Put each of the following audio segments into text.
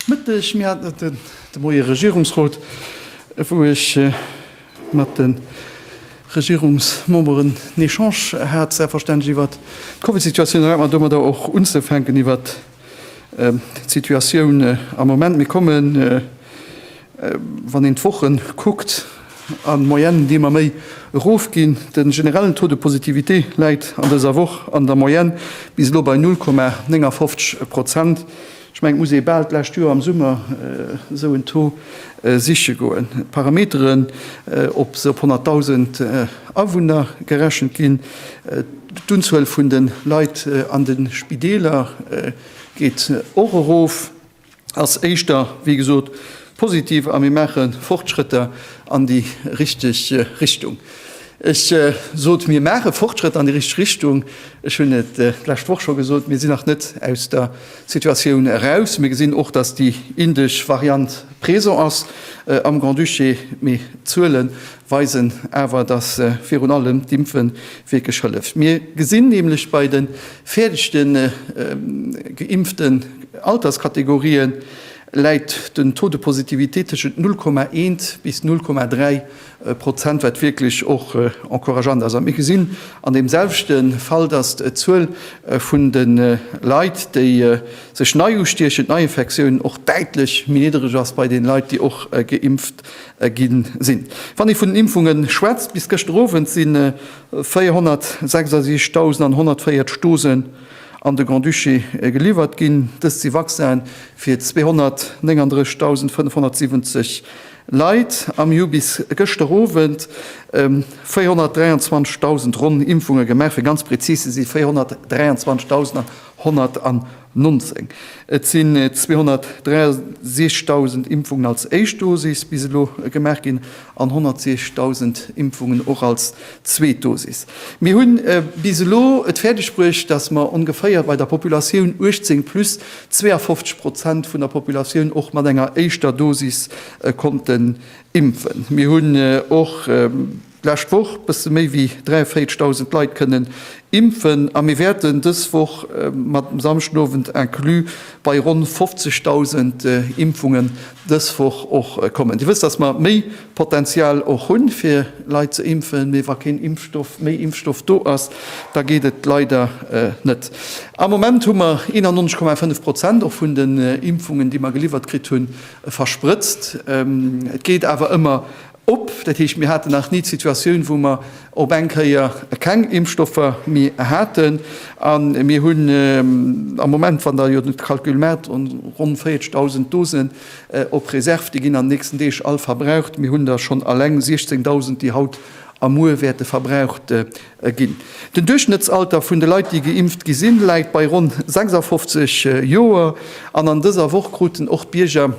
Mëtteg, mir haten et de Moie Regierungsrot, wou ech mat de Regierungsmemberen en Echange hat, selbstverständlech iwwert d'Covidsituatioun. Erlaabt mer domadder och unzefänken iwwert d'Situatioun am Moment. Mir kommen, wann een d'Woche kuckt, an Moyenne déi ëmmer méi erofginn. De generellen Taux de positivité läit an dëser Woch an der Moyenne bis elo bei 0,59 Prozent. Ech mengen, et muss ee bal d'lescht Joer am Summer esou en Taux siche goen. D'Parameteren, ob se op 100.000 Awunner gerechent ginn, d'Unzuel vun de Leit an de Spideeler geet och erof, ass éischter, wéi gesot, Positiv a mir maache Fortschrëtter an déi richteg Richtung. Ech sot, mir maache Fortschrëtter an déi richteg Richtung. Ech hunn et d'lescht Woch scho gesot, Mir sinn nach net aus der Situatioun eraus. Mir gesinn och, datt déi indesch Variant présent ass am Grand-Duché. Mee d'Zuele weisen awer, datt virun allem d'Impfe wierklech hëlleft. Mir gesinn nämlech bei de fäerdegste geimpften Alterskategorien, läit den Taux de positivité tëschent 0,1 bis 0,3 Prozent, wat wierklech och encourageant ass. A mir gesinn an deem selwechte Fall, datt d'Zuel vun de Leit, déi sech nei ustiechen, d'Neiinfektiounen, och däitlech méi niddereg ass bei deene Leit, déi och geimpft gi sinn. Wann ee vun den Impfunge schwätzt, bis gëschter Owend si 466.140 Dosen an de Grand-Duché geliwwert ginn. Dëst si Vaccinen fir 239.570 Leit. Am mir hu bis gëschter Owend 423.000 ronn Impfunge gemaach, fir ganz prezis ze si 423.119. Et sinn 263.000 Impfungen als éischt Dosis bis elo gemaach ginn. an 160.000 Impfungen och als zweet Dosis. Mir hu bis elo et fäerdeg bruecht, datt mer ongeféier bei der Populatioun 18 plus 52 Prozent vun der Populatioun och mat enger éischter Dosis konnten impfen. Mir hunn och d'lescht Woch bësse méi wéi 43.000 Leit kënnen impfen a mir wäerten dës Woch mat dem Samschdenowend inclus bei ronn 50.000 Impfungen dës Woch och kommen. Dir wësst, dass mer méi Potenzial och hunn, fir Leit ze impfen, mee wa keen Impfstoff, méi Impfstoff do ass, da geet et leider net. Am Moment hu mer 91,5 Prozent och vun den Impfungen, déi mer geliwwert kritt hunn, versprëtzt. Et geet awer ëmmer Op, dat heescht, mir haten nach ni d'Situatioun, wou mer op eng Kéier keng Impfstoffer méi haten. A mir hunn am Moment, wann Der jo de Calcul maacht, ronn 40.000 Dosen op Reserv. Déi ginn an den nächsten Deeg all verbraucht. Mir hunn der schonn alleng 16.000, déi haut a muer wäerte verbraucht ginn. Den Duerchschnëttsalter vun de Leit, déi geimpft gi sinn, läit bei ronn 56 Joer. An an dëser Woch kruten och d'Bierger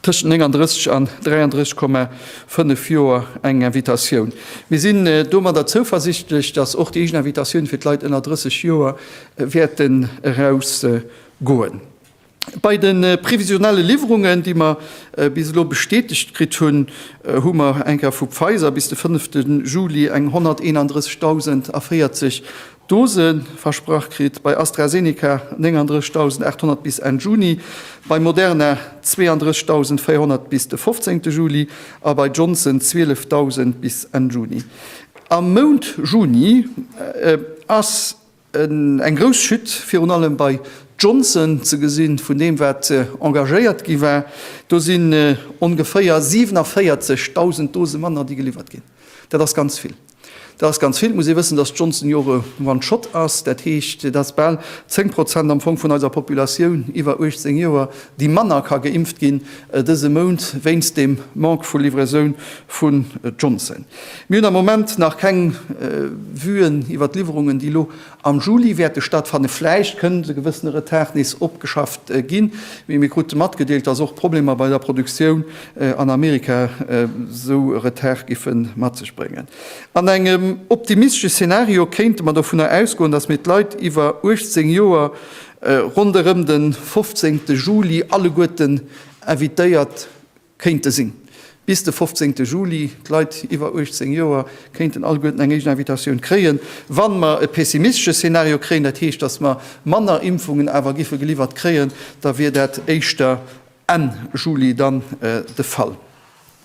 tëschent 39 an 33,5 Joer eng Invitatioun. Mir sinn domadder zouversichtlech, datt och déi éischt Invitatioun fir d'Leit ënner 30 Joer wäerten erausgoen. Bei de previsionelle Liwwerungen, déi mer bis elo bestätegt kritt hunn, hu mer enker vu Pfizer bis de fënnefte Juli eng 131.040 Dose versprach kritt, bei AstraZeneca 39.800 bis Enn Juni, bei Moderna 32.400 bis de 15 Juli a bei Johnson 12.000 bis Enn Juni. Am Mount Juni ass eng grouss Chute virun allem bei Johnson ze gesinn, vun deem wat engagéiert gi war. Do sinn ongeféier 47.000 Dose manner déi geliwwert ginn. Dat ass ganz vill. Dat ass ganz vill. Et muss ee wëssen, datt Johnson jo och e One Shot ass. Dat heescht, et ass bal 10 Prozent am Fong vun eiser Populatioun iwwer 18 Joer, déi manner ka geimpft ginn dëse Mount wéinst dem Manque vu Livraisoun vu Johnson. Mir hunn am Moment nach keng Vuen iwwer d'Liwwerungen, déi elo Am Juli wäerte stattfannen. Vläicht kënnt e gewëssene Retard nees opgeschafft ginn, mee mir krute matgedeelt, dass och Problemer bei der Produktioun an Amerika esou e Retard géife mat sech bréngen. An engem optimistesche Szenario kéinte mer dovunner ausgoen, dass mir d'Leit iwwer 18 Joer ronderëm de 15 Juli alleguerten invitéiert Kéinte sinn. Bis de 15 Juli, d'Leit iwwer 18 Joer kéinten alleguerten eng éischt Invitatioun kréien. Wa mer e pessimistesche Szenario kréien, dat heescht, datt mer manner Impfungen awer giffe geliwwert kréien, da wier dat éischter Enn Juli dann de Fall.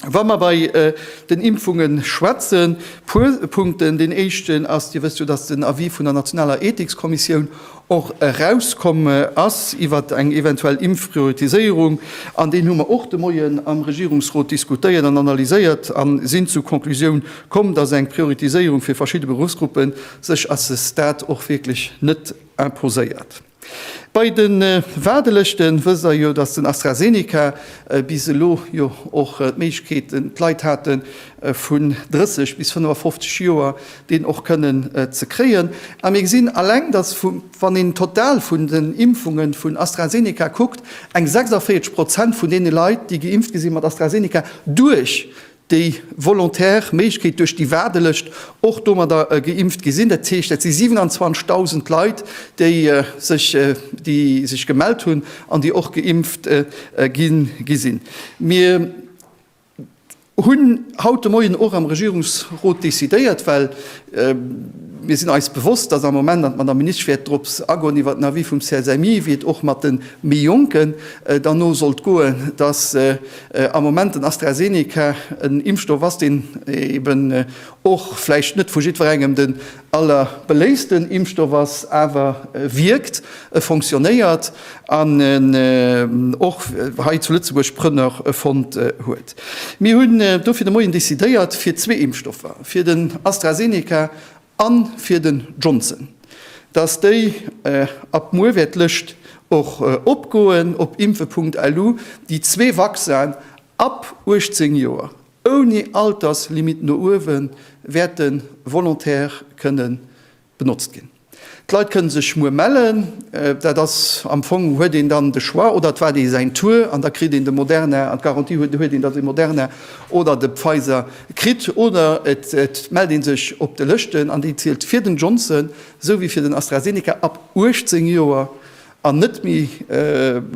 Wa mer bei den Impfunge schwätzen, e puer Punkten. Deen éischten ass, Dir wësst jo, datt den Avis vun der nationaler Ethikskommissioun och erauskomm ass iwwer eng eventuell Impfprioritiséierung. An deen hu mer och de Moien am Regierungsrot diskutéiert an analyséiert a sinn zur Conclusioun komm, dass eng Prioritiséierung fir verschidde Beruffsgruppe sech à ce stade och wierklech net imposéiert. Bei de Waardelëschte wësst Der jo, dass den AstraZeneca bis elo jo och d'Méiglechkeet, d'Leit haten, vun 30 bis 55 Joer, deen och kënnen ze kréien. A mir gesinn alleng, dass vu wann een d'Total vun den Impfunge vun AstraZeneca kuckt, eng 46 Prozent vun deene Leit, déi geimpft gi si mat AstraZeneca, duerch déi volontär Méiglechkeet, duerch déi Waardelëscht och domadder geimpft gi sinn. Dat heescht, dat si 27.000 Leit, déi sech déi sech gemellt hunn an déi och geimpft gi sinn. Mir. hunn haut de Moien och am Regierungsrot decidéiert, well mir sinn eis bewosst, dass am Moment, an d'Madame Ministsch wäert drops agoen, iwwert den Avis vum CSMI, wéi et och mat de méi Jonken dann no sollt goen, dass am Moment den AstraZeneca en Impfstoff ass, deen eeben och vläicht net vu jiddwerengem den Aller beléifsten Impfstoff ass awer, e wierkt, e fonctionnéiert an en och hei zu Lëtzebuerg Prënner fonnt huet. Mir hunn dofir de Moien decidéiert fir zwee Impfstoffer, fir den AstraZeneca a fir den Johnson, dass déi ab muer wäert d'Lëscht och opgoen op impfe punkt lu, déi zwee Vaccin ab 18 Joer, Ouni Alterslimitt no uewe wäert de Volontaire kënne benotzt ginn. D'Leit kënne sech muer mellen. Dat ass am Fong, huet een dann de Choix, oder et waart ee säin Tour an da kritt een de Moderna an d'Garantie huet huet een, datt ee Moderna oder de Pfizer kritt, oder et mellt ee sech op de Lëschten, an déi zielt fir den Johnson esou wéi fir den AstraZeneca ab 18 Joer. An net méi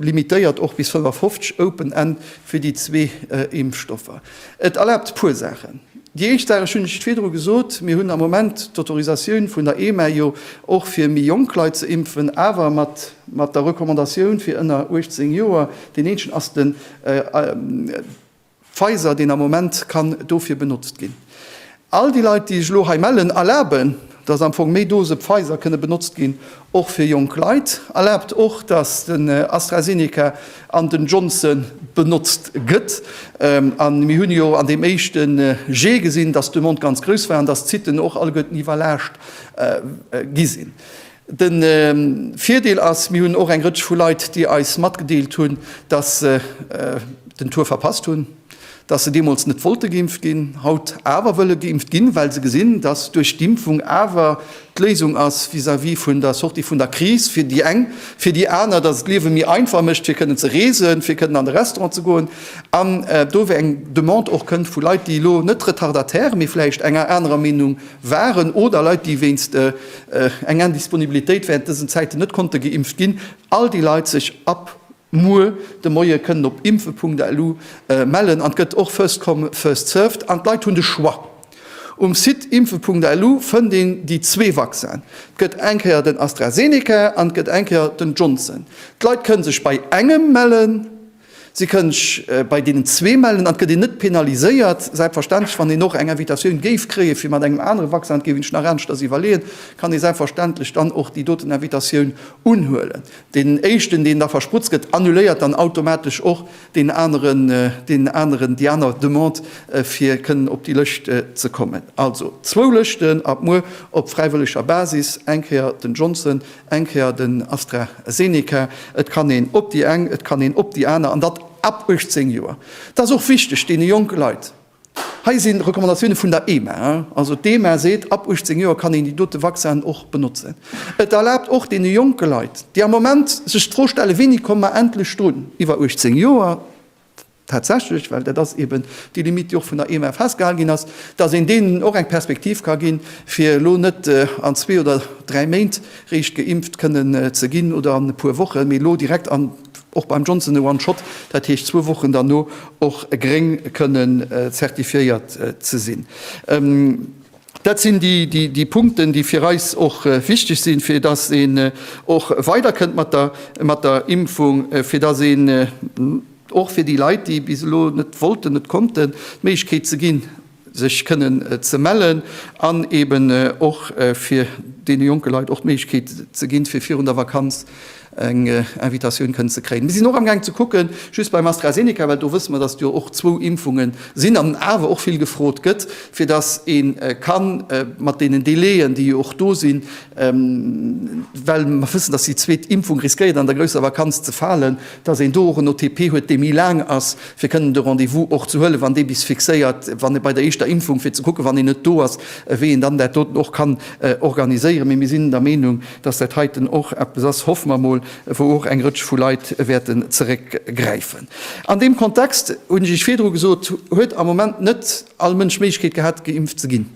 limitéiert och bis 55 Open End fir déi zwee Impfstoffer. Et erlaabt e puer Saachen. Déi éischt Saach, ech hunn et virdru gesot, mir hunn am Moment d'Autorisatioun vun der EMA jo och fir méi jonk Leit ze impfen, awer mat der Recommandatioun fir ënner 18 Joer. Deen éinschen ass den. Pfizer, deen am Moment kann dofir benotzt ginn. All déi Leit, déi sech elo hei mellen, erlaben, dass am Fong méi Dose Pfizer kënne benotzt ginn, och fir jonk Leit, erlaabt och, dass den AstraZeneca an den Johnson benotzt gëtt. A mir hunn jo an deem éischte Jet gesinn, dass d'Demande ganz grouss war an dass d'Siten och alleguerten iwwerlaascht gi sinn. De Virdeel ass, mir hunn och eng Rëtsch vu Leit, déi eis matgedeelt hunn, datt se den Tour verpasst hunn, datt se deemools net wollte geimpft ginn, haut awer wëlle geimpft ginn, well se gesinn, datt duerch d'Impfung awer d'Léisung ass vis-à-vis vun der Sortie vun der Kris, fir déi eng, fir déi aner, datt et d'Liewe méi einfach mécht, fir kënnen ze reesen, fir kënnen an de Restaurant ze goen. An do wou eng Demande och kënnt vu Leit, déi elo net Retardataire, mee vläicht enger anerer Meenung waren, oder Leit, déi wéinst eng Indisponibilitéit während dësen Zäiten net konnte geimpft ginn, all déi Leit sech ab muer de Moie kënnen op impfe.lu mellen. An et gëtt och first come, first served an d'Leit hunn de Choix. Um Site impfe.lu fënnt een déi zwee Vaccinen. Et gëtt eng Kéier den AstraZeneca an et gëtt eng Kéier den Johnson. D'Leit kënne sech bei engem mellen Si kënnch bei deenen zwee mellen an et gëtt een net penaliséiert. Selbstverständlech, wann een och eng Invitatioun géif kréie fir mat engem anere Vaccin, dat géif een sech nach ernschters iwwerleeën, kann ee selbstverständlech dann och déi doten Invitatioun unhuelen. Deen éischten, deen da versprutzt gëtt, annuléiert dann automatesch och deen aneren, deen aneren, déi aner Demande fir kënnen op déi Lëscht ze kommen. Also zwou Lëschten ab muer op fräiwëlleger Basis, eng Kéier den Johnson, Eng Kéier den AstraZeneca, et kann een op déi eng, et kann een op déi aner, an dat ab 18 Joer. Dat ass och wichteg deene jonke Leit. Hei si Recommandatioune vun der EMA. Also d'EMA seet, ab 18 Joer kann een déi dote Vaccinen och benotzen. Et erlaabt och deene jonke Leit, déi am Moment sech d'Fro stellen, Wéini komme mer endlech drun? Iwwer 18 Joer. tatsächlech, well dat ass eben déi Limite, déi och vun der EMA festgehalen ginn ass, dass een deenen och eng Perspektiv ka ginn, fir elo net an zwee oder dräi Méint réischt geimpft kënnen ze ginn oder an e puer Wochen, mee elo direkt an, och beim Johnson, e One-Shot, dat heescht zwou Wochen derno, och gréng kënnen zertifiéiert ze sinn. Dat sinn déi Punkten, déi fir eis och wichteg sinn, fir dass een och weider kënnt mat der Impfung, fir dass een och fir déi Leit, déi bis elo net wollten, net konnten, d'Méiglechkeet ze ginn, sech kënnen ze mellen an eeben och fir deene jonke Leit och d'Méiglechkeet ze ginn, fir virun der Vakanz eng Invitatioun kënnt ze kréien. Mir sinn och amgaang ze kucke just beim AstraZeneca, well do wësse mer, datt jo och zwou Impfunge sinn an awer och vill gefrot gëtt, fir datt ee ka mat deenen Délai'en, déi jo och do sinn, well mer wëssen, datt déi zweet Impfung riskéiert an der grousser Vakanz ze falen, datt een do och en OTP huet, dee méi laang ass, fir kënnen de Rendez-vous och ze huelen, wann dee bis fixéiert, wann e bei der éischter Impfung, fir ze kucken, wann een net do ass, wéi een dann dat doten och kann organiséieren. Mee mir sinn der Meenung, Dass dat heiten och eppes ass, hoffe mer emol, wou och eng Rëtsch vu Leit wäerten zeréckgräifen. An deem Kontext, hunn ech Iech virdru gesot, huet am Moment net all Mënsch d'Méiglechkeet gehat, geimpft ze ginn.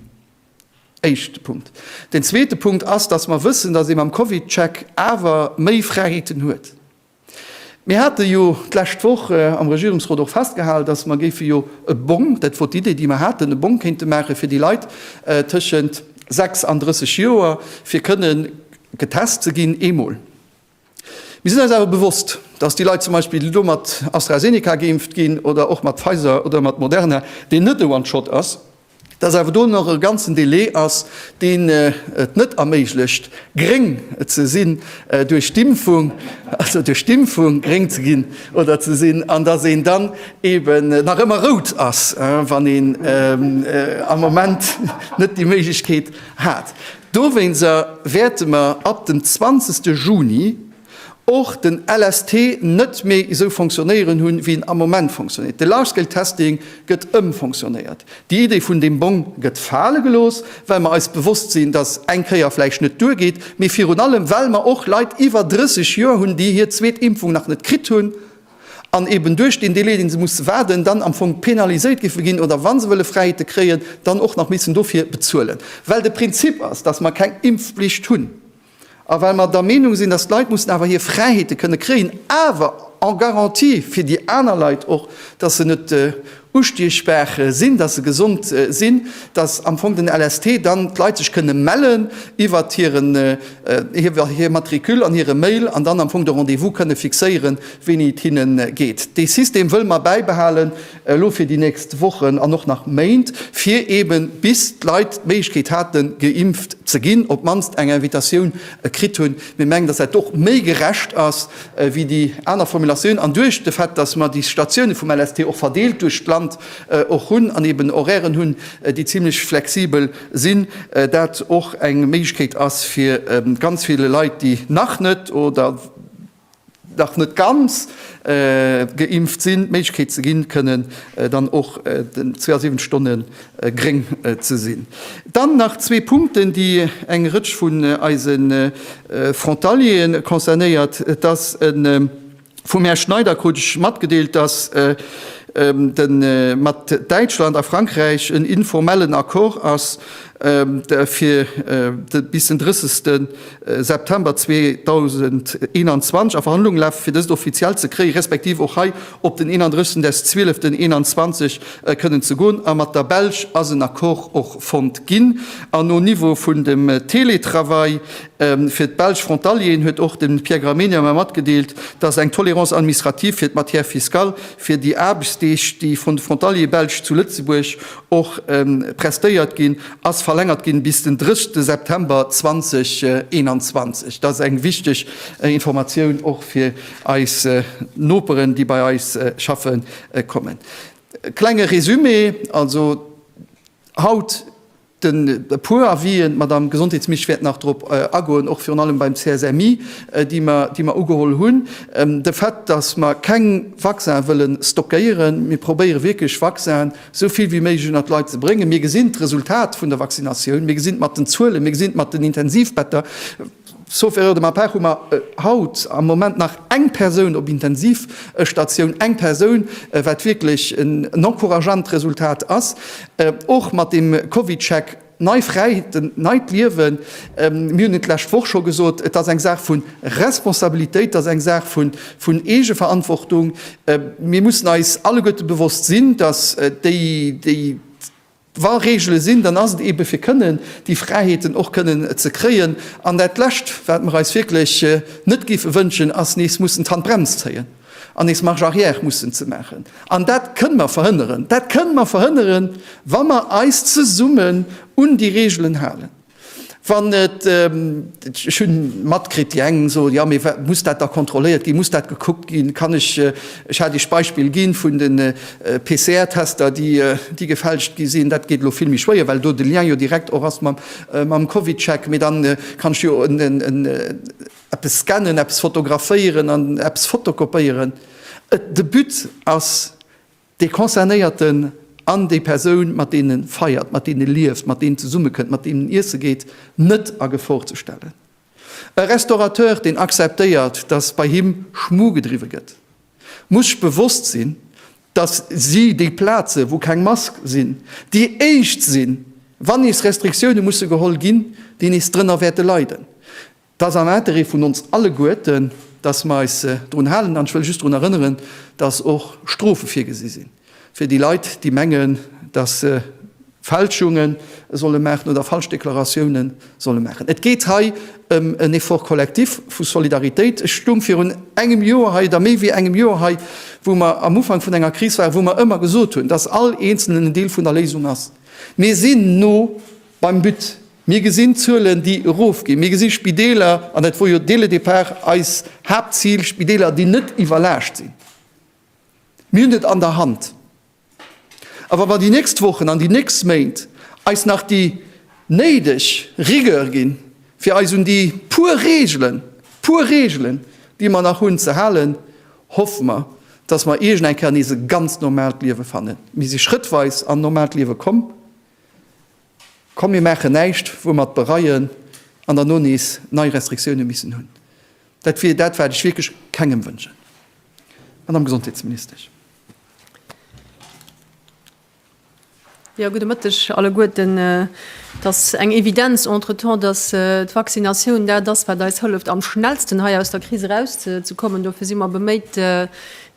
Éischte Punkt. Deen zweete Punkt ass, dass mer wëssen, dass ee mam Covid-Check awer méi Fräiheeten huet. Mir hate jo d'lescht Woch am Regierungsrot och festgehal, datt mer géife jo e Bong, dat wor d'Idee, déi mer haten, e Bong kéinte maache fir déi Leit tëschent 6 an 30 Joer, fir kënne getest ze ginn eemol. Mir sinn eis awer bewosst, datt déi Leit zum Beispill, déi elo mat AstraZeneca geimpft ginn oder och mat Pfizer oder mat Moderna, deen net e One-Shot ass, dass awer do nach e ganzen Delai ass, deen et net erméiglecht, gréng ze sinn duerch d'Impfung, also duerch d'Impfung gréng ze ginn oder ze sinn, an dass een dann eeben nach ëmmer rout ass, wann een am Moment net déi Méiglechkeet hat. Dowéinst wäerte mer ab dem 20. Juni, och den LST net méi esou fonctionnéieren hu wéi en am Moment fonctionnéiert. De Large Scale Testing gëtt ëmfonctionnéiert. Déi Idee vun deem Bong gëtt fale gelooss, well mer eis bewosst sinn, datt eng Kéier vläicht net duergeet, mee virun allem well mer och Leit iwwer 30 Joer hunn, déi hir zweet Impfung nach net kritt hunn an eben duerch deen Delai, dee se musse waarden, dann am Fong penaliséiert giffe ginn oder, wa se wëlle Fräiheete kréien, dann och nach missen dofir bezuelen. Well de Prinzip ass, datt mer keng Impfpflicht hunn. A well mer der Meenung sinn, dass d'Leit mussen awer hir Fräiheete kënne kréien, awer en garantie fir déi aner Leit och, dass se net ustiechbar sinn, dass se gesond sinn, dass am Fong den LST dann d'Leit sech kënne mellen iwwert hir Matricule an hire Mail an dann am Fong de Rendez-vous kënne fixéieren, wéini et hinne geet. Dee System wëlle mer bäibehalen. elo fir déi nächst Wochen an och nach Méint, fir eben, bis d'Leit d'Méiglechkeet haten, geimpft ze ginn, op d'mannst eng Invitatioun kritt hunn. Mir mengen, dass dat och méi gerecht ass wéi déi aner Formulatioun. An duerch de Fait, dass mer déi Statioune vum LST och verdeelt duerch d'Land och hunn an eben Horairen hunn, déi zimlech flexibel sinn, dat och eng Méiglechkeet ass fir ganz ville Leit, déi nach net oder, nach net ganz geimpft sinn, d'Méiglechkeet ze ginn, kënnen dann och 72 Stonne gréng ze sinn. Dann nach zwee Punkten, déi eng Rëtsch vun eise Frontaliere concernéiert. Et ass vum Här Schneider krut ech matgedeelt, dass mat Däitschland a Frankräich en informellen Accord ass, fir bis den 30 September 2021 a Verhandlunge lafen, fir dëst offiziell ze kréien, respektiv och hei op den 31 des 12 2021 kënnen ze goen. A mat der Belsch ass en Accord och fonnt ginn. An au niveau vun dem Teletravail fir d'Belsch Frontalieren huet och de Pierre Gramegna mer matgedeelt, dass eng Tolérance administrative fir d'Matière fiscale fir déi Aarbechtsdeeg, déi vun de Frontaliere Belsch zu Lëtzebuerg och prestéiert ginn, ass verlängert ginn bis den 30 September 2021. Dat ass eng wichteg Informatioun och fir eis Noperen, déi bei eis schaffe kommen. Klenge Résumé, also haut den e puer Avisen, d'Madame Gesondheetsmisch wäert nach drop agoen, och virun allem beim CSMI, déi mer ugeholl hunn. De Fait, dass mer keng Vaccine wëlle stockéieren, mir probéiere wierklech Vaccinen, esou vill wéi méiglech ënnert d'Leit ze bréngen. Mir gesinn d'Resultat vun der Vaccinatioun, mir gesinn et mat den Zuelen, mir gesinn et mat den Intensivbetter. Sauf erreur de ma part hu mer haut am Moment nach eng Persoun op Intensivstatioun, eng Persoun, wat wierklech en encourageant Resultat ass, och mat deem CovidCheck. Nei Fräiheeten, neit Liewen. Mir hunn et d'lescht Woch scho gesot, Et ass eng Saach vu Responsabilitéit, et ass eng Saach vun Eegeverantwortung. Mir mussen eis alleguerte bewosst sinn, datt déi, déi, wa Reegele sinn, dann ass et eebe fir kënnen déi Fräiheeten och kënnen ze kréien. An dat Lescht, wat mer eis wierklech net géife wënschen, ass nees mussen d'Handbrems zéien. an nees Marche arrière mussen ze maachen. An dat kënnen mer verhënneren. Dat kënnen mer verhënneren, wa mer eis zesummen un déi Regeln halen. Wann et, ech hu matkritt, déi eng soen, jo, mee muss dat da kontrolléiert ginn, muss dat gekuckt ginn? Kann ech, ech hat Iech d'Beispill ginn vun de PCR-Tester, déi gefälscht gi sinn, dat geet elo vill méi schwéier, well do de Lien jo direkt och ass mam Covidcheck, mee da kann ech jo en, Eppes scannen, eppes fotograféieren an eppes fotokopéieren. De But ass, dee Concernéierten an déi Persoun, mat deem e feiert, mat deem e lieft, mat deem e zesummekënnt, mat deem en iesse geet, net a Gefor ze stellen. E Restaurateur, deen acceptéiert, dass bei him Schmu gedriwwe gëtt, muss sech bewosst sinn, dass si déi Plaze wou keng Mask sinn, déi éischt sinn, wann nees Restriktioune musse geholl ginn, déi nees drënner wäerte leiden. 't ass am Interêt vun ons alleguerten, dass mer eis drun halen. An ech wëll just drun erënneren, dass och Strofe virgesi sinn fir déi Leit, déi mengen, dass se Fälschunge solle maachen oder falsch Deklaratioune solle maachen. Et geet hei ëm en Effort collectif vu Solidaritéit. Ech stoung virun engem Joer hei, oder méi wéi engem Joer hei, wou mer am Ufank vun enger Kris waren, wou mer ëmmer gesot hunn, dass all Eenzelnen en Deel vun der Léisung ass. Mir sinn no. Beim But, mir gesinn Zuelen, déi erofginn, mir gesi Spideeler, an dat wor jo dès le départ eist Haaptzil, Spideeler, déi net iwwerlaascht sinn. Mir hunn et an der Hand. A wa mer déi nächst Wochen an déi nächst Méint eis nach déi néideg Rigueur ginn, fir eis un déi puer Reegelen, puer Reegelen, déi mer nach hunn, ze halen, hoffe mer, dass mer iergend eng Kéier nees e ganz normaalt Liewe fannen. Mir si schrëttweis an normaalt Liewe komm. Komm mir maachen näischt wou mer et bereien an derno nees nei Restriktioune missen hunn. Dat wier dat wat ech wierklech kengem wënschen. Madame Gesondheetsministesch. Jo, gudde Mëtteg alleguerten. Et ass eng Evidenz entretemps, datt d'Vaccinatioun dat ass wat eis hëlleft am schnellsten hei aus der Kris erauszekommen. Dofir si mer beméit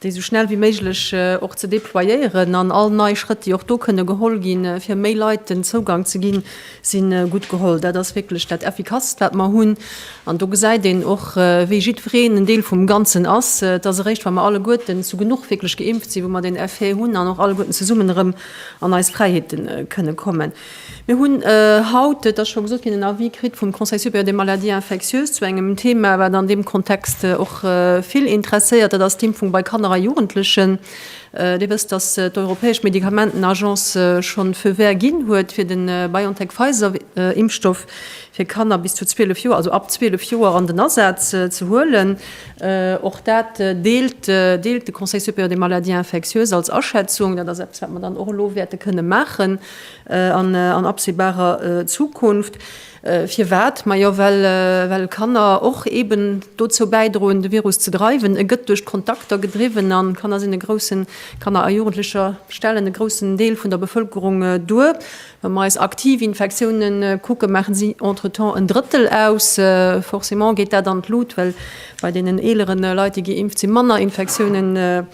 déi esou schnell wéi méiglech och ze déployéieren an all nei Schrëtt, déi och do kënne geholl ginn, fir méi Leit den Zougang ze ginn, si gutt geholl. Dat ass wierklech dat Effikasst, wat mer hunn. An do gesäit een och, wéi jiddwereen en Deel vum Ganzen ass. Et ass eréischt, wa mer alleguerten zu genuch wierklech geimpft sinn, wou mer deen Effet hunn an och alleguerten zesummen erëm an eis Fräiheete kënne kommen. Mir hunn haut, et ass scho gesot ginn, en Avis kritt vum Conseil supérieur des maladies infectieuses zu engem Thema, wat an deem Kontext och vill interesséiert, dat ass d'Impfung bei Kanner a Jugendlechen. Dir wësst, dass d'europäesch Medikamentenagence scho feu vert ginn huet fir de BioNTech-Pfizer-Impfstoff fir Kanner bis zu 12 Joer, also ab 12 Joer, an den Asaz ze huelen. Och dat deelt de Conseil supérieur des maladies infectieuses als Aschätzung. Dat ass eppes, wat mer dann och elo wäerte kënne maachen. an an absehbarer Zukunft. Firwat? Majo well well Kanner och eben dozou bäidroen de Virus ze dreiwen. E gëtt duerch d'Kontakter gedriwwen an Kanner sinn e groussen, Kanner a Jugendlecher stellen e groussen Deel vun der Bevëlkerung duer. Wa mer eis aktiv Infektiounen kucken, maachen si entretemps en Drëttel aus. Forcément geet dat an d'Lut well Bei deenen eelere Leit, déi geimpft sinn, manner Infektiounen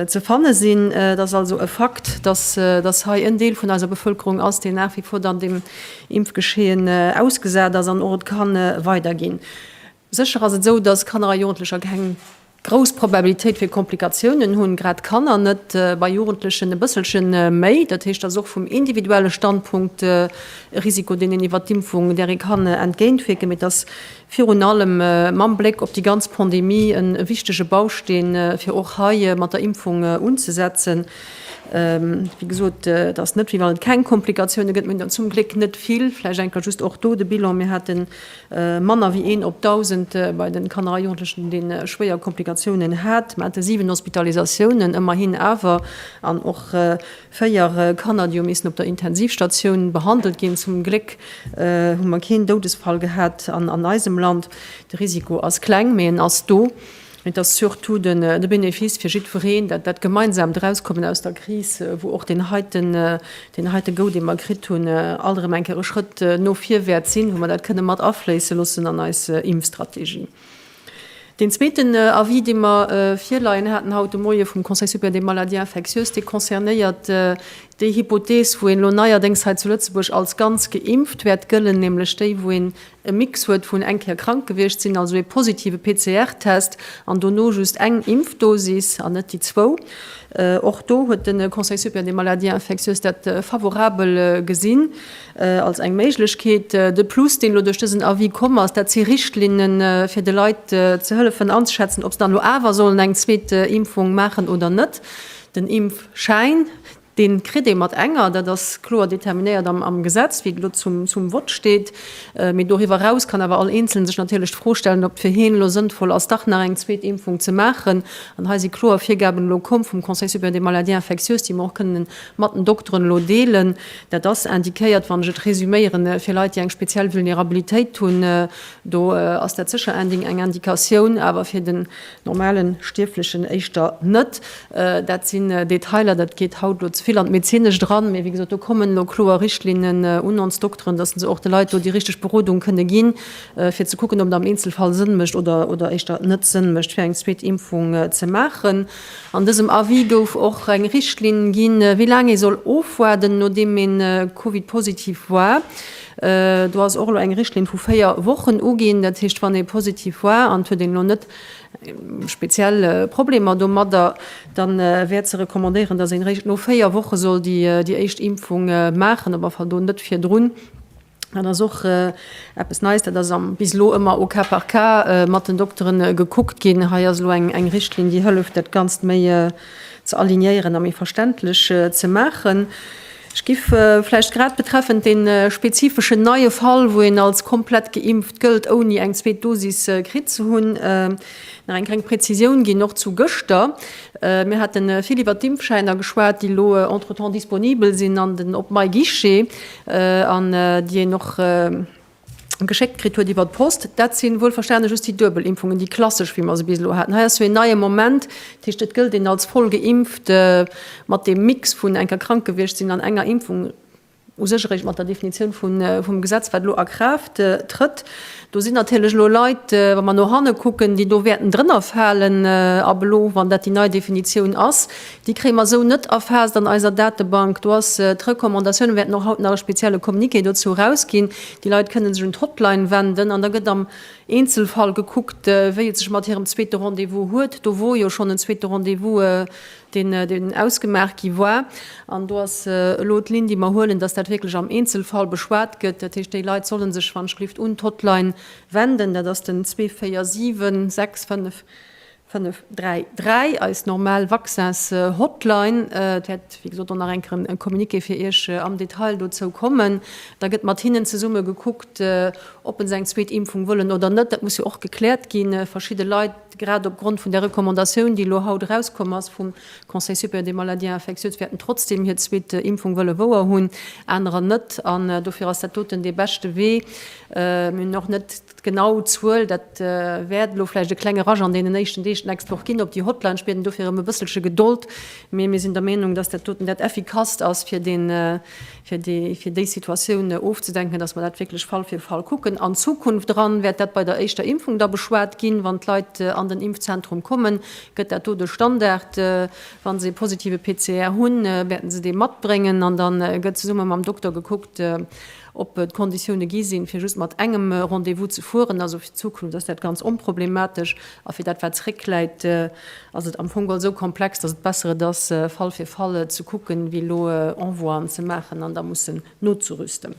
ze fanne sinn. Et ass also e Fakt, dass hei en Deel vun eiser Bevëlkerung ass, deen nach wie vor dann deem Impfgeschehen ausgesat ass an och et ka weiderginn. Sécher ass et esou, dass Kanner a Jugendlecher keng grouss Probabilitéit fir Komplikatiounen hunn, grad Kanner net, bei Jugendlechen e bësselche méi. Dat heescht, et ass och vum individuelle Standpunkt e Risiko, deen een iwwert d'Impfung, där ee kann entgéintwierken. Mee et ass virun allem mam Bléck op déi ganz Pandemie e wichtege Bausteen, fir och hei mat der Impfung unzesetzen. Wéi gesot, et ass net, wéi wann et keng Komplikatioune gëtt, mee zum Gléck net vill. Vläicht eng Kéier just och do de Bilan, Mir hate manner wéi een op 1.000 bei de Kanner a Jugendlechen, dee schwéier Komplikatiounen hat. Mir hate 7 Hospitalisatiounen ëmmerhin awer an och Véier Kanner, déi hu missen op der Intensivstatioun behandelt ginn. Zum Gléck hu mer keen Doudesfall gehat an eisem Land. De Risiko ass kleng, mee en ass do. Mee et ass surtout de Benefice fir jiddwereen, dat gemeinsamt Erauskommen aus der Kris, wou och deen heite Goût, dee mer kritt hunn, alt erëm eng Kéier e Schrëtt no vir wäert sinn, wou mer dat kënne mat afléisse loossen an eis Impfstrategie. Deen zweeten Avis, dee mer virleien haten haut de Moie vum Conseil supérieur des maladies infectieuses, dee concernéiert déi Hypothees, wou een elo neierdéngs hei zu Lëtzebuerg als ganz geimpft wäert gëllen, nämlech déi, wou een e Mix huet vun eng Kéier krank gewiescht sinn, also ee positive PCR-Test, an dono just eng Impfdosis an net déi zwou. Och do huet de Conseil supérieur des maladies infectieuses dat favorabel gesinn. als eng Méiglechkeet. De Plus, deen elo duerch dësen Avis komm ass, dat si Richtlinnen, fir de Leit ze hëllefen anzeschätzen, ob se dann elo awer sollen eng zweet Impfung maachen oder net. Den Impfschäin, dee kritt ee mat enger, dat ass kloer determinéiert am Gesetz, wéi et elo zum Vott steet. Mee doriwwer eraus kann awer all Eenzelen sech natierlech d'Fro stellen, ob et fir hien elo sënnvoll ass, dach nach eng zweet Impfung ze maachen. An hei si kloer Virgaben elo komm vum Conseil supérieur des maladies infectieuses, déi mer och kënnen mat den Dokteren elo deelen. Dat ass indiquéiert, wann ech et résuméieren, fir Leit, déi eng speziell Vulnerabilitéit hunn. Do ass dat sécher eng Indikatioun, awer fir den normale Stierflechen éischter net. Dat sinn Detailer, dat geet haut elo ze vill an d'Medezinescht eran. Mee wéi gesot, do kommen elo kloer Richtlinnen un ons Dokteren, dass se och de Leit do déi richteg Berodung kënne ginn, fir ze kucken, ob et am Eenzelfall Sënn mécht oder éischter net Sënn mécht, fir eng zweet Impfung ze maachen. An dësem Avis gouf och eng Richtlinn ginn, wéi laang ee soll ofwaarden, nodeem ee Covid-positiv war. Do ass och elo eng Richtlinn vu véier Wochen uginn. Dat heescht, wann ee positiv war an et huet een elo net speziell Problemer domadder, da wär ze recommandéieren, dass een eréischt no véier Woche soll déi éischt Impfung maachen, op alle Fall do net virdrun. Dat ass och eppes Neies. Dat ass bis elo ëmmer au cas par cas mat den Doktere gekuckt ginn. Hei ass elo eng Richtlinn, déi hëlleft, dat Ganzt méi ze alignéieren a méi verständlech ze maachen. Ech giff vläicht grad betreffend dee spezifeschen neie Fall, wou een als komplett geimpft gëllt, ouni eng zweet Dosis kritt ze hunn, nach eng kleng Prezisioun ginn, och zu gëschter. Mir hate vill iwwert d'Impfschäiner geschwat, déi elo entretemps disponibel sinn an den op myguichet. an déi een och geschéckt kritt huet iwwer d'Post, dat si wuelverstane just déi duebel Impfungen, déi klassesch, wéi mer se bis elo haten. Hei ass jo een neie Moment, dat heescht, et gëllt een als voll geimpft mat deem Mix vun enker krank gewiescht sinn an enger Impfung u sech eréischt mat der Definitioun vum Gesetz, wat elo a Kraaft trëtt. Do sinn natierlech elo Leit, wa mer no hanne kucken, déi do wäerten drënner falen. Ab elo, wann dat déi nei Definitioun ass, déi kréie mer esou net erfaasst an eiser Datebank. Do ass d'Recommandatioun, mir wäerten och haut nach e spezielle Communiqué dozou erausginn, déi Leit kënne sech un d'Hotline wenden an da gëtt am Eenzelfall gekuckt, wéi et sech mat hirem zweete Rendez-vous huet. Do wor jo schonn en zweete Rendez-vous deen deen ausgemaach gi war, an do ass elo d'Linn, déi mer huelen, dass dat wierklech am Eenzelfall beschwat gëtt. Dat heescht, déi Leit solle sech wanschgelift un d'Hotline wenden, dat ass den 247 65 533, eis normal Vaccins-Hotline. Et wäert, wéi gesot, och nach eng Kéier e Communiqué fir Iech am Detail dozou kommen. Da gëtt mat hinnen zesumme gekuckt, ob se eng zweet Impfung wëllen oder net. Dat muss jo och gekläert ginn. Verschidde Leit. Grad opgrond vun der Recommandatioun, déi elo haut erauskomm ass vum Conseil supérieur des maladies infectieuses, wäert en trotzdem hir zweet Impfung wëlle wouer hunn, anerer net. An dofir ass dat doten dee beschte Wee. Mir hunn och net d'genau Zuel. Dat wäert elo vläicht e klenge Rush an deenen éischten Deeg d'nächst Woch ginn op déi Hotline. Ech bieden dofir ëm e bësselche Gedold. Mee mir sinn der Meenung, dass dat doten dat Effikasst ass, fir dee fir déi Situatioun ofzedenken, dass mer dat wierklech Fall fir Fall kucken. An Zukunft eran wäert dat bei der éischter Impfung da beschwat ginn, wann d'Leit an den Impfzentrum kommen, gëtt dat do de Standard. Wa se e positive PCR hunn, wäerte se dee matbréngen an da gëtt zesumme mam Dokter gekuckt, ob d'Konditioune gi sinn, fir just mat engem Rendez-vous ze fueren. Also fir d'Zukunft ass dat ganz onproblematesch. A fir dat, wat zréckläit, ass et am Fong geholl esou komplex, datt et besser et ass, Fall fir Fall ze kucken, wéi elo Envoien ze maachen an da mussen nozerüsten.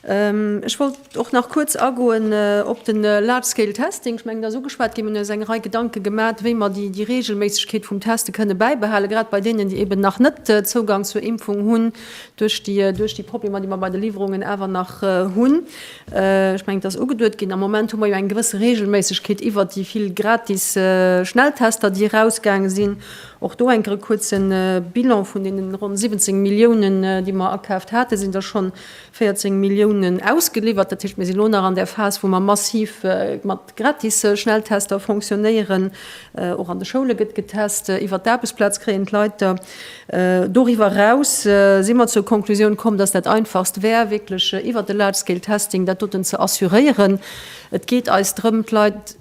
Ech wollt och nach kuerz agoen op de Large-Scale-Testing. Ech mengen, dat ass ugeschwat ginn. Mir hunn eis eng Rei Gedanke gemat, wéi mer déi Reegelméissegkeet vum Teste kënne bäibehalen, grad bei deenen, déi eben nach net Zougang zur Impfung hunn, duerch déi Problemer, déi mer bei de Liwwerungen awer nach hunn. Ech mengen, et ass ugeduet ginn. Am Moment hu mer jo eng gewësse Reegelméissegkeet iwwert déi vill gratis Schnelltester, déi erausgaange sinn. Och do enker e kuerze Bilan, Vun deene ronn 17 Milliounen, déi mer akaaft haten, sinn der schonn 14 Milliounen ausgeliwwert. Dat heescht, mir si lo nach an där Phas, wou mer massiv mat gratis Schnelltester fonctionnéieren. Och an de Schoule gëtt getest. Iwwert d'Aarbechtsplaz kréien d'Leit der. Doriwwer eraus si mer zur Konklusioun komm, dass dat Einfachst wär, wierklech iwwert de Large-Scale-Testing dat doten ze assuréieren. Et geet eis drëm, d'Leit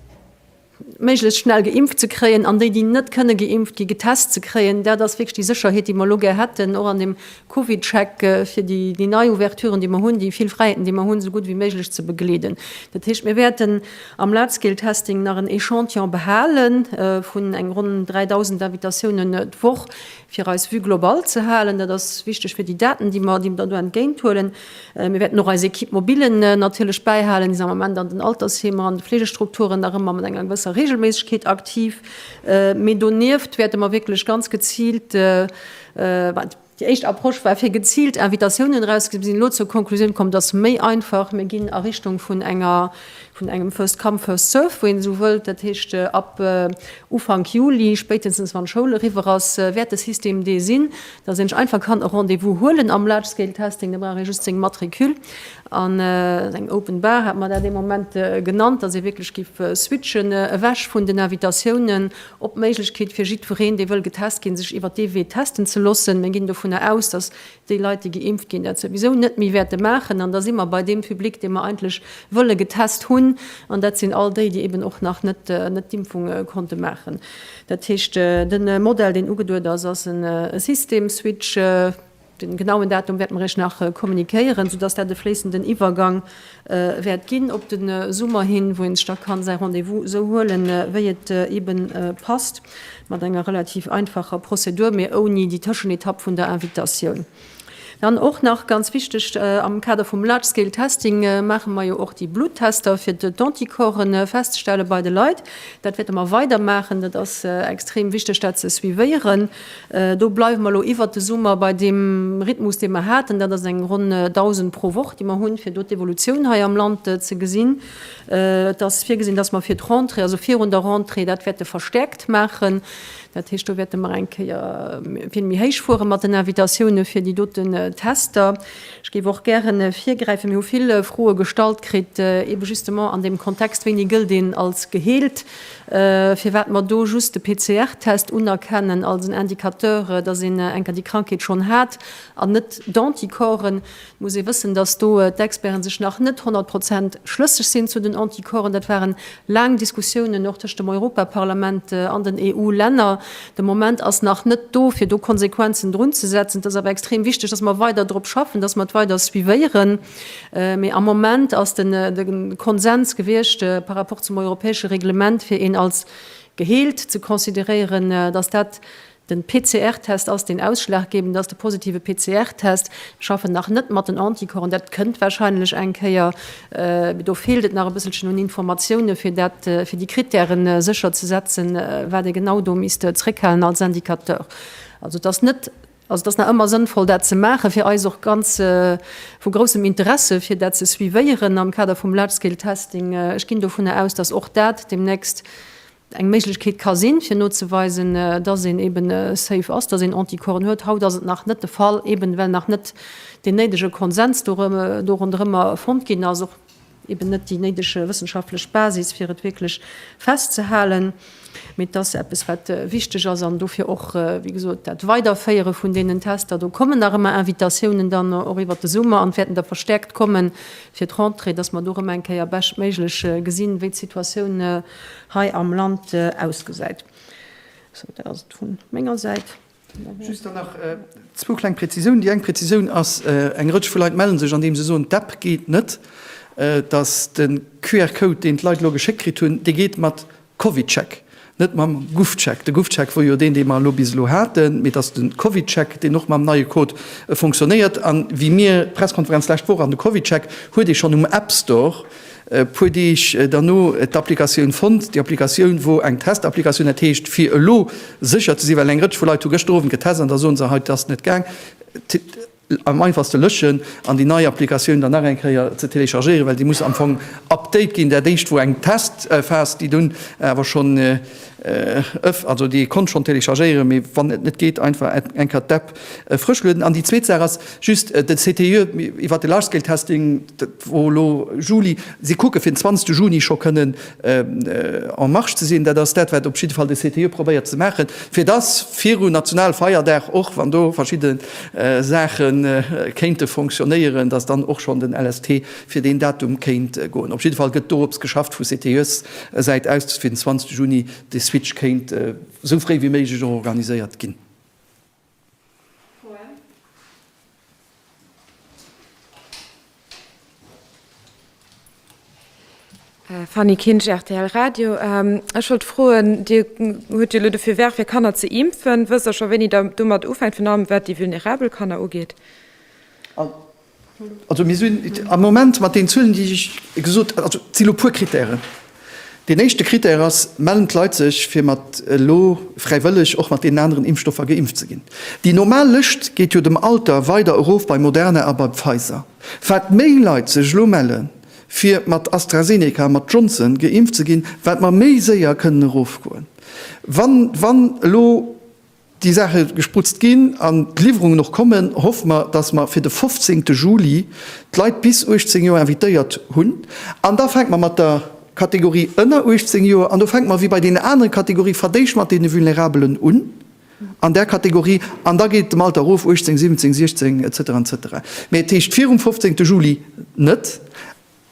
méiglechst schnell geimpft ze kréien an déi, déi net kënne geimpft ginn, getest ze kréien. Dat ass wierklech déi Sécherheet, déi mer elo gär hätten, och an deem Covid-Check, fir déi nei Ouverturen, déi mer hunn, déi vill Fräiheeten, déi mer hunn, esou gutt wéi méiglech ze begleeden. Dat heescht, mir wäerten, Am Large-Scale-Testing nach en Echantillon behale vun eng ronn 3.000 Invitatiounen d'Woch, fir eis Vue globale ze halen. Dat ass wichteg fir déi Daten, déi mer do entgéint huelen. Mir wäerten och eis Equipe mobile natierlech bäihalen. Déi sinn am Moment an den Altersheemer an de Fleegestrukturen nach ëmmer mat enger gewësser Reegelméissegkeet aktiv. Mee donieft wäerte mer wierklech ganz geziilt, Déi éischt Approche war, fir geziilt Invitatiounen erauszeginn. Mir sinn elo zur Konklusioun komm, et ass méi einfach, mir ginn a Richtung vun enger, vun engem first come, first served, wou een esou wëllt. Dat heescht, ab Ufank Juli, spéitstens wann d'Schoul eriwwer ass, wäert de System dee sinn, dass een sech einfach kann e Rendez-vous huelen am Large Scale Testing. Da brauch ee just seng Matricule an eng Open Bar, hat mer dat ee Moment genannt, dass ee wierklech géif switchen ewech vun den Invitatiounen Op d'Méiglechkeet fir jiddwereen, dee wëll getest ginn, sech iwwert dee Wee testen ze loossen. Mir ginn dovunner aus, datt déi Leit, déi geimpft ginn, dat souwisou net méi wäerte maachen. An da si mer bei deem Public, dee mer eigentlech wëlle getest hunn. An dat sinn all déi, déi eben och nach net d'Impfung konnte maachen. Dat heescht, de Modell, deen ugeduet ass, ass e System-Switch. Den genauen Datum wäerte mer Iech nach kommunikéieren, soudass dat e fléissenden Iwwergang wäert ginn op den Summer hin, wou een sech da kann säi Rendez-vous esou huelen, wéi et eben passt, mat enger relativ einfacher Prozedur, mee ouni déi Tëschenetapp vun der Invitatioun. Dann och nach ganz wichteg, Am Kader vum Large-Scale Testing maache mer jo och déi Bluttester, fir d'Anticorpsen festzestellen bei de Leit. Dat wäerte mer weidermaachen. Dat ass extrem wichteg, dat ze suivéieren. Do bleiwe mer elo iwwert de Summer bei deem Rhythmus, dee mer haten. Dat ass eng ronn 1.000 pro Woch, déi mer hunn, fir do d'Evolutioun hei am Land ze gesinn. Et ass virgesinn, dass mer fir d'Rentrée, also virun der Rentrée, dat wäerte verstäerkt maachen. Dat heescht, do wäerte mer eng Kéier vill méi héich fuere mat den Invitatioune fir déi doten Tester. Ech géif och gäre virgräifen, mir hu vill Froe gestallt kritt, ebe justement an deem Kontext, Wéini gëllt een als geheelt? firwat mer do just de PCR-Test unerkennen als en Indicateur, dass een eng Kéier déi Krankheet schonn hat, an net d'Anticorpsen. Et muss ee wëssen, dass do d'Experten sech nach net honnert Prozent schlësseg sinn zu den Anticorpsen. Dat ware laang Diskussiounen och tëscht dem Europaparlament an den EU-Länner. De Moment ass nach net do, fir do Konsequenzen drunzesetzen. Et ass awer extrem wichteg, dass mer weider drop schaffen, dass mer et weider suivéieren. Mee am Moment ass de Konsens gewiescht par rapport zum europäesche Reglement, fir een als geheelt ze consideréieren, dass dat de PCR-Test ass, deen ausschlaggebend ass, de positive PCR-Test. Mir schaffen nach net mat den Anticorpsen. Dat kënnt warscheinlech eng Kéier. Mee do feelt et nach e bësselchen un Informatioune fir dat, fir déi Krittäre sécher ze setzen, wat ee genau do misst zréckhalen als Indicateur. Also et ass net. Also et ass nach ëmmer sënnvoll, dat ze maachen. Fir eis och ganz vu groussem Interesse, fir dat ze suivéieren am Kader vum Large-Scale Testing. Ech ginn dovunner aus, dass och dat deemnächst eng Méiglechkeet ka sinn, fir nozeweisen, dass een eeben safe ass, dass een Anticorpsen huet. Haut ass et nach net de Fall, eeben well nach net deen néidege Konsens do ronderëmmer fonnt ginn ass. eben net déi néidege wëssenschaftlech Basis, fir et wierklech festzehalen, mee et ass eppes, wat wichteg ass an dofir och, wéi gesot, dat Weiderféiere vun deenen Tester. Do kommen nach ëmmer Invitatiounen dann och iwwert de Summer an et wäerten der verstäerkt kommen fir d'Rentrée, dass mer do erëm eng Kéier beschtméiglech gesinn, wéi d'Situatioun hei am Land ausgesäit. Sou, dat ass et vu menger Säit. Just dann nach zwou kleng Präzisiounen. Déi eng Präzisioun ass, Eng Rëtsch vu Leit mellen sech, andeem se soen, d'App geet net, dass de QR-Code, deen d'Leit elo geschéckt kritt hunn, dee geet mat CovidCheck, net mam GovCheck. De GovCheck wor jo deen, dee mer elo bis elo haten, mee dass de CovidCheck, deen och mam neie Code fonctionnéiert, an wéi mir d'Presskonferenz d'lescht Woch, an de CovidCheck huet ee schonn um App Store, E puer Deeg derno d'Applikatioun fonnt, déi Applikatioun wor eng Testapplikatioun, dat heescht fir elo sécher ze sinn, well eng Rëtsch vu Leit hu gëschter Owend getest an da soen se, hei, et ass net gaang, am einfachste lëschen an déi nei Applikatioun dann nach eng Kéier ze téléchargéieren, well déi muss am Fong update ginn. Dat éischt wor eng Testphas, déi dunn awer schonn ëff, also déi ee konnt schonn téléchargéieren, mee wann et net geet, einfach eng Kéier d'App frësch lueden. An déi zweet Saach ass just de CTIE iwwert de Large-Scale-Testing. Volo Juli, si kucke fir den 20 Juni scho kënnen en marche ze sinn. Dat ass dat, wat op jidde Fall de CTIE probéiert ze maachen, fir datt viru Nationalfeierdag, och wann do verschidde Saache kéinte fonctionnéieren, datt dann och schonn den LST fir deen Datum kéint goen. Op jidde Fall gëtt dorops geschafft vu CTIE-Säit aus, datt fir den 20 Juni de Switch kéint esou fréi wéi méiglech och organiséiert ginn. Fanny Kinsch, rtl Radio, Ech wollt froen, Dir hutt jo elo de Feu vert fir Kanner ze impfen. Wësst Der scho wéini Der domat ufänkt, virun allem wat déi vulnerabel Kanner ugeet? Also mir sinn am Moment mat den Zuelen, déi ech gesot, also et si lo puer Krittären. Deen éischte Krittär ass, Mellen d'Leit sech, fir mat elo fräiwëlleg och mat deenen aneren Impfstoffer geimpft ze ginn? Déi normal Lëscht geet jo dem Alter weider erof bei Moderna a bei Pfizer. Wat méi Leit sech elo melle fir mat AstraZeneca a mat Johnson geimpft ze ginn, wat mer méi séier kënnen erofgoen. Wann elo déi Saache gesprutzt ginn an d'Liwwerungen och kommen, hoffe mer, dass mer fir de 15 Juli d'Leit bis 18 Joer invitéiert hunn. An da fänke mer mat der Kategorie ënner 18 Joer an. Do fänke mer, wéi bei deenen anere Kategorië verdéischt, mat deene Vulnerabelen un an där Kategorie an da geet et dem Alter erof, 18, 17, 16 et cetera et cetera. Mee et heescht virum 15 Juli net.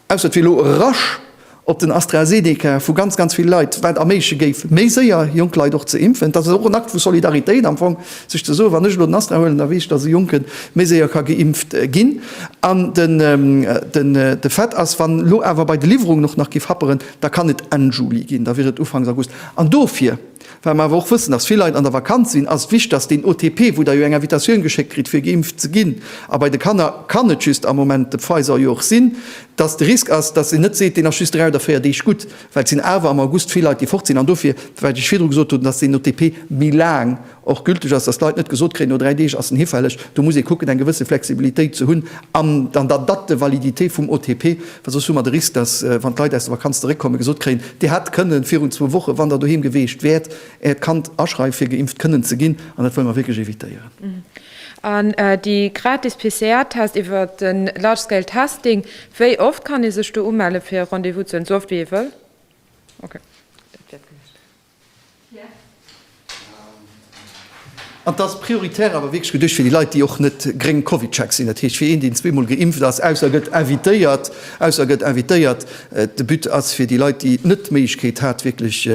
Ausser et wier elo e Rush op den AstraZeneca vu ganz, ganz ville Leit, wat erméigleche géif, méi séier jonk Leit och ze impfen. Et ass och en Akt vu Solidaritéit am Fong, sech ze soen, wann ech elo den Astra huelen, da weess ech, datt e Jonke méi séier ka geimpft ginn. An de Fait ass, wann elo awer bei de Liwwerungen och nach géif happeren, da kann et Enn Juli ginn, da wier et Ufanks August. An dofir. Wat mer awer och wëssen, ass, vill Leit an der Vakanz sinn, ass et wichteg, dass deen OTP, wou Der jo eng Invitatioun geschéckt kritt, fir geimpft ze ginn, a bei de Kanner kann et just am Moment de Pfizer jo och sinn, dass de Risk ass, dass een net seet, deen ass just dräi oder véier Deeg gutt, well et sinn awer am August vill Leit, déi fort sinn. An dofir, wat ech virdru gesot hunn, dass deen OTP méi laang och gülteg ass, dass d'Leit net gesot kréien, no dräi Deeg ass en hifälleg. Do muss ee kucken, eng gewësse Flexibilitéit ze hunn an der Date de validité vum OTP, Well soss hu mer de Risk, dass, wann d'Leit aus der Vakanz zeréckkommen, gesot kréien, Dir hätt kënnen virun zwou Wochen, wann Der doheem geweecht wäert, Äert Kand aschreiwen, fir geimpft kënnen ze ginn. An dat wëlle mer wierklech evitéieren. An déi gratis PCR-Test iwwer de Large Scale Testing, wéi oft kann ee sech do umellen, fir e Rendez-vous ze huelen? Esou oft, wéi ee wëll? Okay. An et ass prioritär awer wierklech geduecht fir déi Leit, déi och net gréng Covidcheck sinn. Dat heescht, fir een, deen zweemol geimpft ass, ausser e gëtt invitéiert, ausser e gëtt invitéiert. De But ass fir déi Leit, déi net d'Méiglechkeet hat, wierklech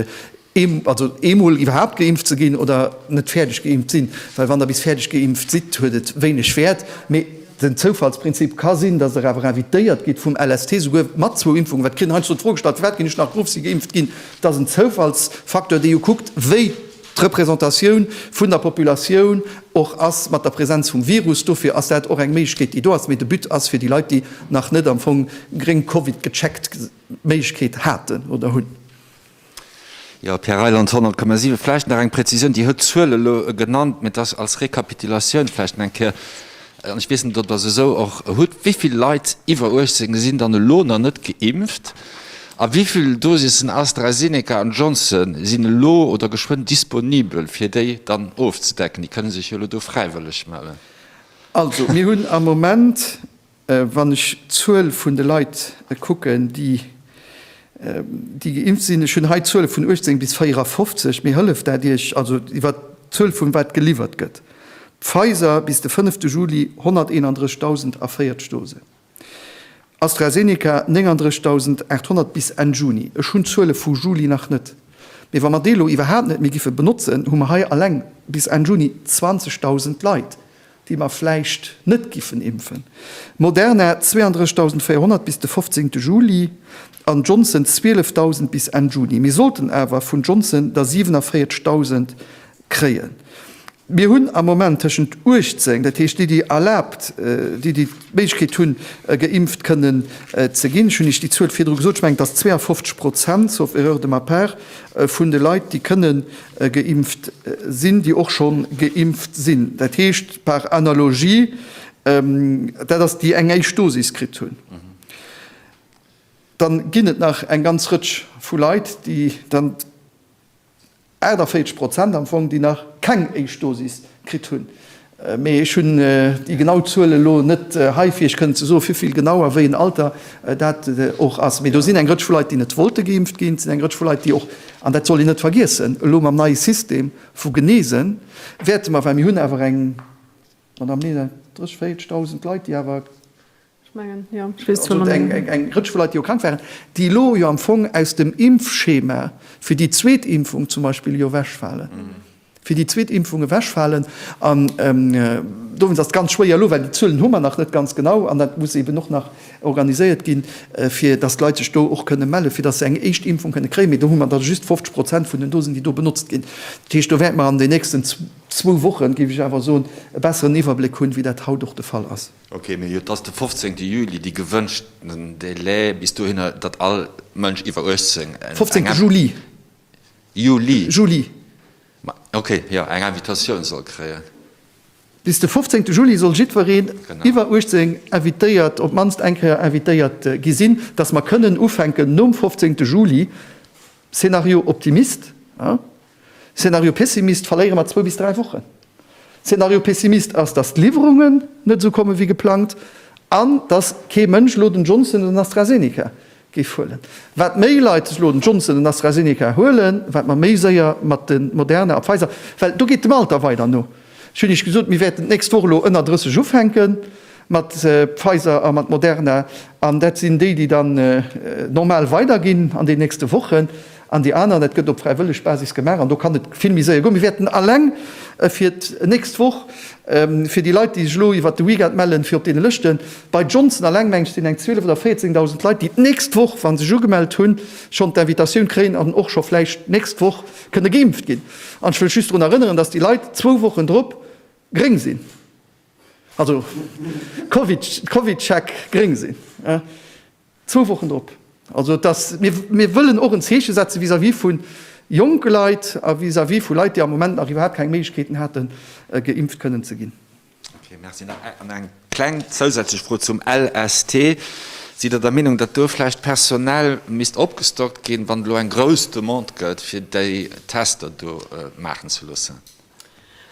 ee, also eemol iwwerhaupt geimpft ze ginn oder net fäerdeg geimpft sinn, well wann Der bis fäerdeg geimpft sidd, huet et wéineg Wäert. Mee den Zoufallsprinzip ka sinn, dass Der awer invitéiert gitt vum LST, souguer mat zwou Impfungen. Wat kritt, heiansdo d'Fro gestallt, firwat ginn ech nach, d'Grouf si geimpft ginn. Et ass en Zoufallsfacteur, dee jo kuckt, wéi d'Representatioun vun der Populatioun och ass mat der Präsenz vum Virus. Dofir ass dat och eng Méiglechkeet, déi do ass. Mee de But ass fir déi Leit, déi nach net am Fong gréng Covid gecheckt d'Méiglechkeet haten oder hunn. Jo, Pierre Reyland, 100,7. Vläicht nach eng Präzisioun, Dir hutt d'Zuel elo genannt, mee et ass als Rekapitulatioun vläicht nach eng Kéier. An ech weess net, ob Der se esou och hutt, wéi vill Leit iwwer 18 sinn dann elo nach net geimpft a wéi vill Dosissen AstraZeneca an Johnson sinn elo oder geschwënn disponibel, fir déi dann ofzedecken? Déi kënne sech jo elo do fräiwëlleg mellen. Also, mir hunn am Moment, wann ech d'Zuel vun de Leit kucken, déi geimpft sinn, ech hunn hei d'Zuele vun 18 bis 54, mee hëlleft dat Iech, also iwwer d'Zuel vun wat geliwwert gëtt? Pfizer bis de fënnefte Juli 131.040 Dosen, AstraZeneca 39.800 bis Enn Juni. Ech hunn d'Zuele vu Juli nach net, mee wa mer déi elo iwwerhaapt net méi giffe benotzen, hu mer hei alleng bis Enn Juni 20.000 Leit, déi mer vläicht net giffen impfen. Moderna 32.400 bis de fofzéngte Juli an Johnson 12.000 bis Enn Juni. Mir sollten awer vun Johnson der 47.000 kréien. Mir hunn am Moment tëschent 18, dat heescht déi, déi erlaabt, déi, déi d'Méiglechkeet hunn, geimpft kënnen ze ginn, ech hunn Iech déi Zuel virdru gesot, ech mengen et ass 52 Prozent, sauf erreur de ma part, vun de Leit, déi kënne geimpft sinn, déi och schonn geimpft sinn, dat heescht par analogie, dat ass déi eng éischt Dosis kritt hunn. Dann ginn et nach eng ganz Rëtsch vu Leit, déi dann 48 Prozent am Fong, déi nach keng éischt Dosis kritt hunn. Mee ech hunn déi genau Zuelen elo net hei, fir Iech kënnen ze soen, wéivill genau a wéi en Alter dat och ass. Mee do sinn eng Rëtsch vu Leit, déi net wollte geimpft ginn. Et sinn eng Rëtsch vu Leit, déi och, an dat sollt een net vergiessen, elo mam neie System vu Geneese wäerte mer, well mir hunn awer eng, Madame Mehler, 30, 40 Dausend Leit, déi awer Eng Rëtsch vu Leit, déi jo krank waren, déi elo jo am Fong aus dem Impfschema fir déi zweet Impfung zum Beispill jo ewechfalen, fir déi zweet Impfung ewechfalen. An dowéinst ass et ganz schwéier elo, well déi Zuelen hu mer nach net ganz genau an dat muss eeben och nach organiséiert ginn, fir datt d'Leit sech do och kënne mellen, fir datt se eng éischt Impfung kënne kréien. Mee do hu mer da just 50 Prozent vun den Dosen, déi do benotzt ginn. Dat heescht, do wäerte mer an den nächsten zwou Wochen, géif ech awer soen, e besseren Iwwerbléck hunn, wéi dat haut och de Fall ass. Ok, mee jo, et ass de 15 Juli dee gewënschten Délai bis dohinner, datt all Mënsch iwwer 18 eng. 15 Juli. Juli. Juli. Ma ok, jo, eng Invitatioun soll kréien. Bis de 15 Juli soll jiddwereen iwwer 18 invitéiert, op d'mannst eng Kéier invitéiert gi sinn, datt mer kënnen ufänken nom 15 Juli, Szenario Optimist, Szenario Pessimist, Verléiere mer zwou bis dräi Wochen. Szenario Pessimist ass, datt d'Liwwerungen net esou komme wéi geplangt an datt kee Mënsch elo den Johnson oder den AstraZeneca géif huelen. Wat méi Leit sech elo den Johnson oder den AstraZeneca huelen, wat mer méi séier mat de Moderna a Pfizer, well do geet dem Alter weider no. Ech hunn Iech gesot, mir wäerten d'nächst Woch elo ënner 30 ufänke mat Pfizer a mat Moderna an dat sinn déi, déi dann normal weiderginn an den nächste Wochen. An déi aneren, dat gëtt op fräiwëlleg Basis gemaach an do kann et vill méi séier goen. Mir wäerten alleng fir d'nächst Woch, fir déi Leit, déi sech elo iwwert de Weekend mellen, fir op deene Lëschten, bei Johnson alleng, meng ech, sinn eng 12 oder 14.000 Leit, déi d'nächst Woch, wa sech ugemellt hunn, schonn d'Invitatioun kréien an och scho vläicht d'nächst Woch kënne geimpft ginn. An ech wëll just drun erënneren, dass déi Leit zwou Wochen drop gréng sinn, also Covid-Check gréng sinn. Zwou Wochen drop. Also et ass, mir, mir wëllen och en Zeeche setzen vis-à-vis vu jonke Leit a vis-à-vis vu Leit, déi am Moment nach iwwerhaapt keng Méiglechkeeten haten, geimpft kënnen ze ginn. Okay, merci. Nach eng kleng zousätzlech Fro zum LST. Sidd Der der Meenung, datt do vläicht personell misst opgestockt ginn, wann et elo eng grouss Demande gëtt, fir déi Tester do maachen ze loossen?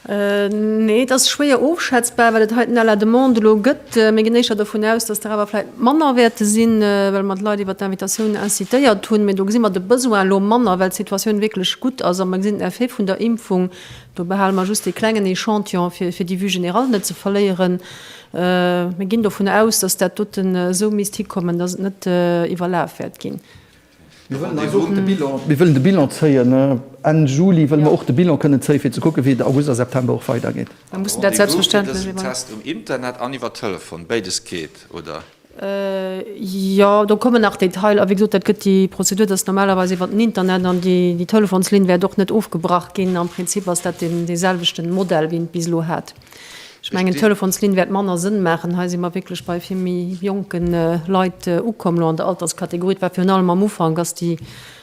Nee, et ass schwéier ofschätzbar, well et hei den à la demande elo gëtt. Mir ginn éischter dovun aus, dass der awer vläicht manner wäerte sinn, well mer d'Leit iwwert d'Invitatioun incitéiert hunn. Mee do gesi mer de Besoin elo manner, well d'Situatioun wierklech gutt ass a mer gesinn den Effet vun der Impfung. Do behale mer just ee klengen Echantillon, fir déi Vue générale net ze verléieren. Mir ginn dovun aus, dass dat doten esou misst hikommen, dass et net iwwerlaf wäert ginn. Mir wëllen eis och de Bilan. Mir wëllen de Bilan zéien. Enn Juli wëlle mer och de Bilan kënnen zéien, fir ze kucken, wéi et August a September och weidergeet. Rendez-vous fir dësen Test um Internet an iwwer Telefon, béides geet, oder? Jo, do kommen nach Detailer. Wéi gesot, dat gëtt déi Prozedur, dat ass normalerweis iwwer den Internet. An déi Telefonslinn wäert och net ofgebrach ginn. Am Prinzip ass dat dee selwechten Modell, wéi een et bis elo hat. Ech mengen, d'Telefonslinn wäert manner Sënn maachen. Hei si mer wierklech bei vill méi jonke Leit ukomm elo an der Alterskategorie. Et war virun allem am Ufank, ass déi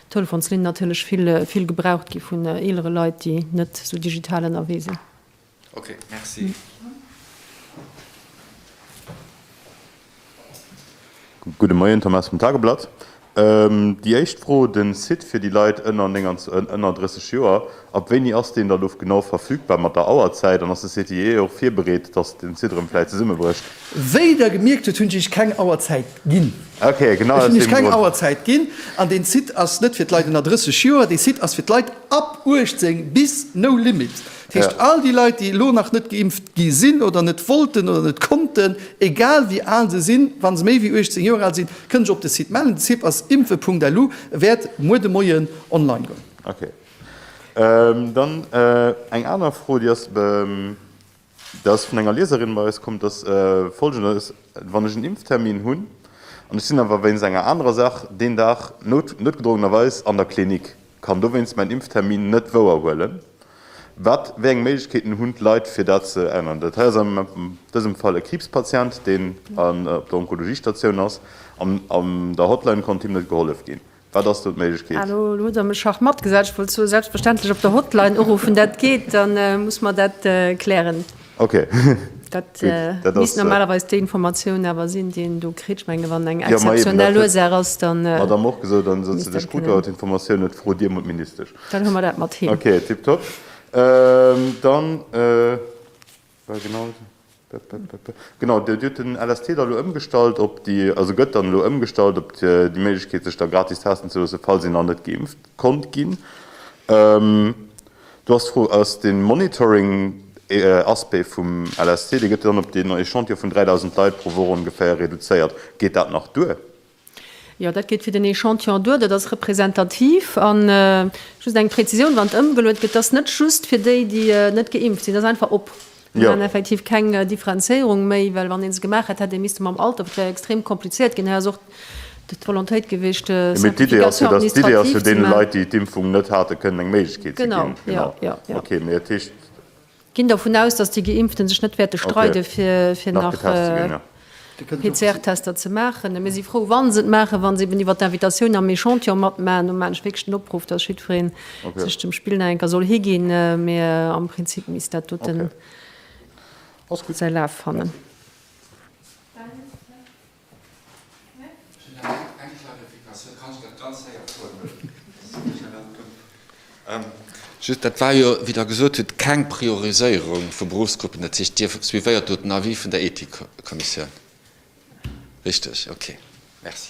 Telefonslinn natierlech vill, vill gebraucht gi vun eelere Leit, déi net esou digital ënnerwee sinn. Okay, merci. Gudde Moien, Thomas vum Tageblatt. Déi éischt Fro, de Site fir déi Leit ënner 39 Joer, ab wéini ass deen da lo genau verfügbar mat der Auerzäit an ass de CTIE och virbereet, datt den Site erëm vläicht zesummebrécht? Wéi der gemierkt hutt, hunn ech iech keng Auerzäit ginn. Okay, genau aus deem Grond. Ech hunn iech keng Auerzäit ginn an deen Site ass net fir d'Leit ënner 30 Joer, dee Site ass fir d'Leit ab 18 bis no limit. Dat heescht, all déi Leit, déi elo nach net geimpft gi sinn oder net wollten oder net konnten, egal wéi al se sinn, wa se méi wéi 18 Joer al sinn, kënne sech op de Site mellen. De Site ass impfen.lu, wäert muer de Moien online goen. Ok. Dann eng aner Fro, déi ass, dat ass vun enger Lieserin bei eis komm, dat ass Folgendes, Wann ech en Impftermin hunn an ech sinn awer wéinst enger anerer Saach deen Dag noutgedrongenerweis an der Klinik, Kann dowéinst mäin Impftermin net wouer huelen. Wat, wéi eng Méiglechkeeten hunn d'Leit fir dat ze änneren? Dat hei ass an dësem Fall e Kriibspatient, deen op der Onkologiestatioun ass. An an der Hotline konnt him net gehollef ginn. Wat ass do d'Méiglechkeet? Elo hutt Der mech schach matgesat. Ech wollt soen, selbstverständlech op der Hotline uruffen. Dat geet. Da muss mer dat klären. Ok. Dat misst normalerweis déi Informatioun awer sinn, déi een do kritt. Ech mengen, wann eng exzeptionell Ursaach ass, dann. Ech hat am och gesot, dann sot se, de Sputter huet d'Informatioun net, fro Dir mol d'Ministesch. Dann hu mer dat mat him. Ok, tiptop. Dann, war genau dat, genau, Dir hutt den LST da elo ëmgestallt op déi, also gëtt dann elo ëmgestallt op déi Méiglechkeet, sech da gratis testen ze loossen, falls een nach net geimpft konnt ginn. Do ass d'Fro, Ass dee Monitoring ee Aspect vum LSC? Dee gëtt jo dann op deen Echantillon vun 3.000 Leit pro Woch ongeféier reduzéiert. Geet dat nach duer? Jo, dat geet fir den Echantillon duer. Dat ass representativ. A just eng Prezisioun, Wann et ëmgeluet gëtt, dat ass net just fir déi, déi net geimpft sinn. Dat ass einfach op. Mir man effektiv keng Differenzéierung méi, well wann ee se gemaach hätt, hätt ee misste mam Alter, wat jo extrem kompliziert ginn, hei ass och d'Volontéit gewiescht, d'Simplification administrative ze maachen. Mee d'Idee ass jo, deene Leit, déi d'Impfung net hate kënnen eng Méiglechkeet ze ginn. Genau, jo, jo. Okay, mee et heescht. Ginn dervun aus, datt déi Geimpfte sech net wäerte streide fir nach getest ze ginn, jo. PCR-Tester ze maachen. A mir si frou, wa se et maachen, wa se eben iwwer d'Invitatioun am Echantillon matmaachen. Do maachen ech wierklech den Opruff, dass jiddwereen sech dem Spill nach eng Kéier soll higinn. Mee am Prinzip misst dat doten säi Laf fannen. Just, dat war jo, wéi Der gesot hutt, keng Prioriséierung vu Beruffsgruppen. Dat heescht, Dir suivéiert do den Avis vun der Ethikkommissioun. Richteg? Okay. Merci.